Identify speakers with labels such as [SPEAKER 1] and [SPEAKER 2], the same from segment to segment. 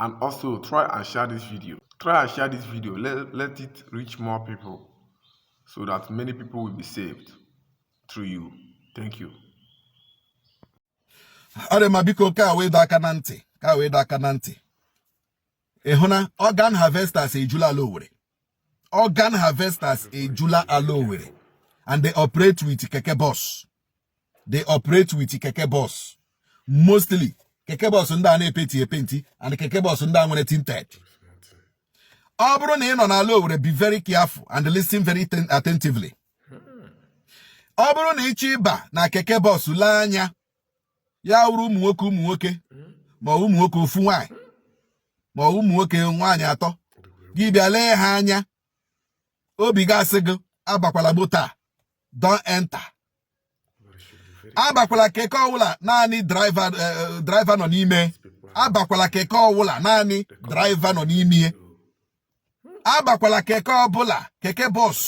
[SPEAKER 1] and also try and share this video try and share this video let, let it reach more people so that many people will be saved through you thank
[SPEAKER 2] you ma biko ka wee dọ aka na ntị ka wee dọ aka na ntị ị hụ na organ harvesters ejula ala Owerri organ harvesters ejula ala Owerri and they operate with keke bus they operate with keke bus mostly keke bus ndị a na-epenti epenti and keke bus ndị a nwere tinted ọ bụrụ na ị nọ n'ala Owerri be very careful and listen very attentively ọ bụrụ na ị chọ ịba na keke bus lee anya ya wụrụ ụmụ nwoke ụmụ nwoke ma ụmụ nwoke ofu nwaanyị ma ụmụ nwoke nwaanyị atọ gị bịa lee ha anya obi gị asị gị abakwala moto don't enter abakwala keke ọwụla naanị driver eh, eh, nọ n'ime abakwala keke ọwụla naanị driver nọ n'ime abakwala keke ọbụla keke bus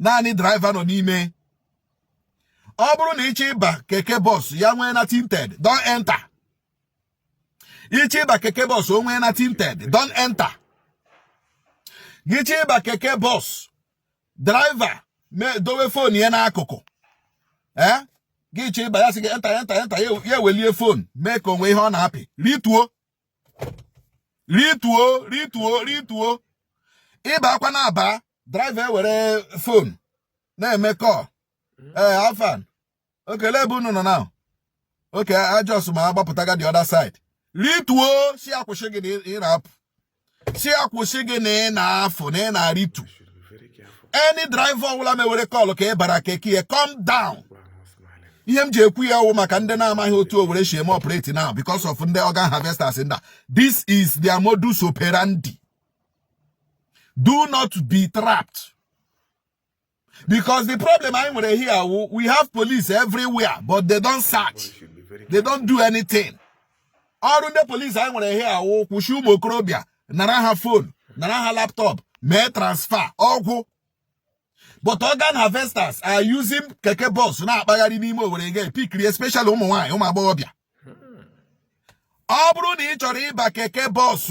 [SPEAKER 2] naanị driver nọ n'ime ọ bụrụ na ị chọ ịba keke bus ya nwee na tinted don't enter ị chọ ịba keke bus o nwee na tinted don't enter gị chọ ịba keke bus driver dowe phone ya n'akụkụ ee eh? gị chọ ịba ya sị gị enter enter enter ya ewelie phone mee ka o nwe ihe ọ na-apị rịtuo rịtuo rịtuo rịtuo ị bakwanụ aba driver ewere phone na-eme call hmm. ee eh, afa okay lee ebe unu nọ now okay I just m agbapụtaga the other side rịtuo sị ya kwụsị gị na ị na-apụ sị ya kwụsị gị na ị na-afụ na ị na-arịtu any driver ọbụla mewere call ka ị bara keke ya come down ihe m ji ekwu ya wụ maka ndị na-amaghị otu Owerri si eme operate now because of ndị organ harvesters ndị a this is their modus operandi do not be trapped because the problem anyị nwere here we have police everywhere but they don't search they don't do anything ọrụ ndị police anyị nwere here wụ kwụsị ụmụ okorobịa nara ha phone nara ha laptop mee transfer ọ gwụ but organ harvesters are using keke bus na-akpagharị n'ime Owerri again pikiri especially ụmụ nwaanyị ụmụ agbọghọbịa ọ bụrụ na ị chọrọ ịba keke bus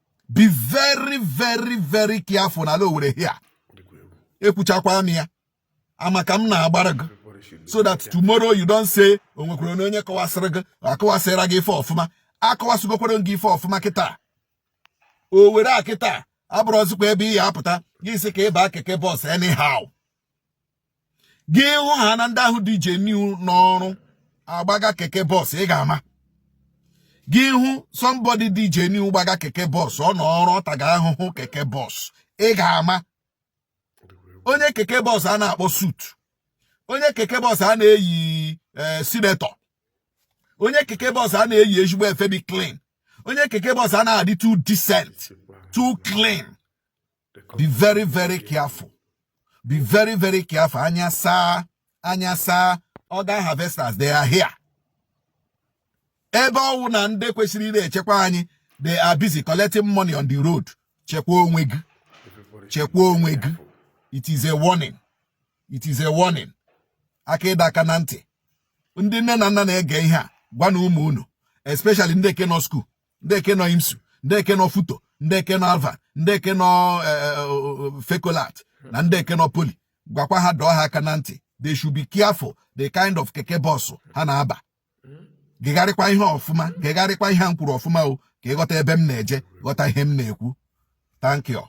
[SPEAKER 2] be very very very careful na ala Owerri here ekwuchakwara m ya ama ka m na-agbara gị so that tomorrow you don't say o nwekwara na onye kọwasịrị gị akọwasịra gị ife ọfụma akọwasịgokwara m gị ife ọfụma kịta Owerri kịta abụrọzịkwa ebe ị ya-apụta gị sị ka ị ba keke bus anyhow gị hụ ha na ndị ahụ dị genuine n'ọrụ agbaga keke bọs ị ga-ama gị hụ somebody dị genuine gbaga keke bọs ọ nọ ọrụ ọ taga ahụhụ keke bọs ị ga-ama onye keke bọs a na-akpọ suit onye keke bọs a na-eyi eh, senator onye keke bọs a na-eyi ezigbo efe dị clean onye keke bọs a na-adị too decent too clean be very very careful be very very careful anya saa anya saa organ harvesters they are here ebe ọwụ na ndị kwesịrị ire echekwa anyị they are busy collecting money on the road chekwa onwe gị chekwa onwe gị it is a warning it is a warning aka ịdọ aka na ntị ndị nne na nna na-ege ihe a gwanụ ụmụ unu especially ndị eke nọ school ndị eke nọ imsu ndị eke nọ futo ndị eke nọ alvan ndị eke nọ e, e, e, fecolart na ndị eke nọ poly gwakwa ha dọọ ha aka na ntị they should be careful the kind of keke bọsụ ha na-aba gegharịkwa ihe ọfụma gegharịkwa ihe m kwuru ọfụma o ka ị ghọta ebe m na-eje ghọta ihe m na-ekwu thank you